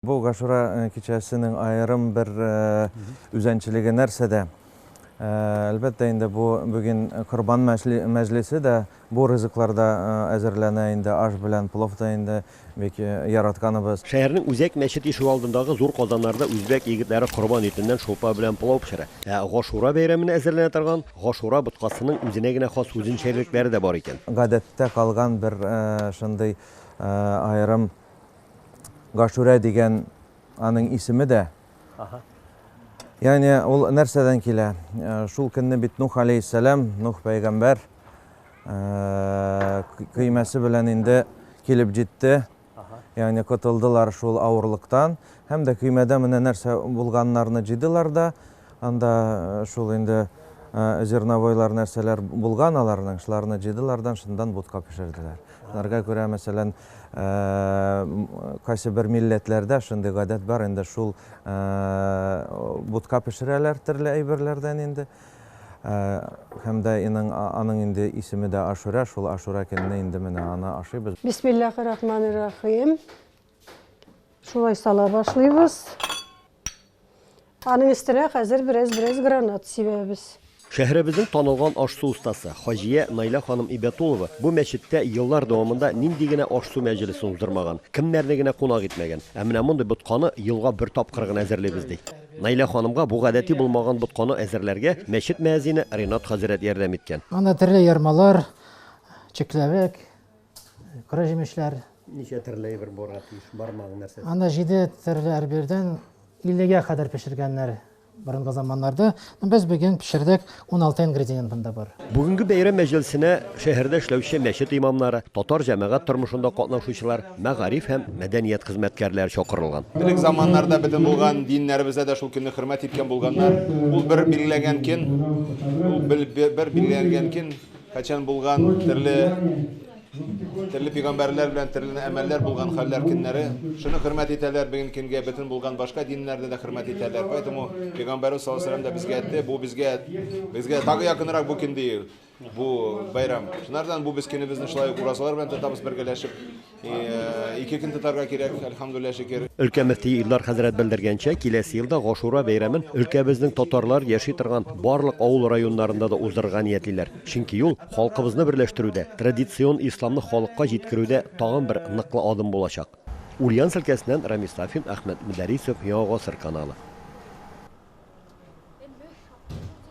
Бу Гашура кичәсенең аерым бер үзәнчелеге нәрсәдә? Әлбәттә инде, бу бүген Корбан мәҗлесе дә, бу ризыклар да әзерләнә инде, аш белән плов та инде бик яратканыбыз. Шәһәрнең Үзәк мәчет ишегалдындагы зур казаннарда үзбәк егетләре корбан итеннән шулпа белән пылау пешерә. Ә Гашура бәйрәменә әзерләнә торган Гашура боткасының үзенә генә хас үзенчәлекләре дә бар икән. Гадәттә калган бер шундый аерым. Гашүрә дигән аның исеме дә. Ага. Яни ул нәрсәдән килә? Э, шул көнне бит Нух алейхиссалам, Нух пәйгамбәр э, көймәсе белән инде килеп җитте. Яни котылдылар шул авырлыктан һәм дә көймәдә менә нәрсә булганнарны җыйдылар да Анда шул инде зерновойлар нәрсәләр булган аларның, шуларны җыйдылар да шундан бутка пешерделәр. Шуларга күрә, мәсәлән, кайсы бер милләтләрдә шундый гадәт бар, инде шул бутка пешерәләр төрле әйберләрдән инде. Һәм дә иның аның инде исеме дә Ашура, шул Ашура көнне инде менә аны ашыйбыз. Бисмиллахи рахмани рахим. Шулай сала башлыйбыз. Аның өстенә хәзер бераз-бераз гранат сибәбез. Шәһәребезнең танылган аш-су остасы Хаҗия Найла ханым Ибәтулова бу мәчеттә еллар дәвамында нинди генә аш-су мәҗлесен уздырмаган, кемнәрне генә кунак итмәгән. Ә менә мондый ботканы елга бер тапкыр гына әзерлибез, ди. Найла ханымга бу гадәти булмаган ботканы әзерләргә мәчет мөәзине Ренат хәзрәт ярдәм иткән. Анда төрле ярмалар, чикләвек, Кыры җимешләр. Ничә төрле әйбер булырга тиеш? Бармагың нәрсә? Анда җиде төрле әрбирдән 50-гә кадәр пешергәннәр борынгы заманнарда. Без бүген пешердек 16 ингредиент монда бар. Бүгенге бәйрәм мәҗлесенә шәһәрдә эшләүче мәчет имамнары, татар җәмәгать тормышында катнашучылар, мәгариф һәм мәдәният хезмәткәрләре чакырылган. Элек заманнарда бөтен булган диннәребездә дә шул көнне хөрмәт иткән булганнар. Ул бер билгеләнгән көн, ул бер билгеләнгән көн, Кайчан булган терле терле пигамбәрләр белән терле әмәлләр булган хәлләр көннәре. Шуны хөрмәт итәләр бүген көнгә бөтен булган башка диннәрдә дә хөрмәт итәләр. Поэтому пигамбәр саллаллаһу алейһи да безгә әйтте, бу безгә безгә тагы якынрак бу көн ди бу бәйрәм. Шунардан бу без көнебезне шулай уразалар белән тотабыз бергәләшеп. Ике көн тотарга кирәк, әлхәмдүлилләһ шөкер. Өлкә мөфтие Илдар хәзрәт белдергәнчә, киләсе елда Гашура бәйрәмен өлкәбезнең татарлар яши торган барлык авыл-районнарында да уздырырга ниятлиләр. Чөнки ул халкыбызны берләштерүдә, традицион исламны халыкка җиткерүдә тагын бер ныклы адым булачак. Ульяновск өлкәсеннән Рамис Сафин, Әхмәт Мөдәрисов, Яңа гасыр каналы.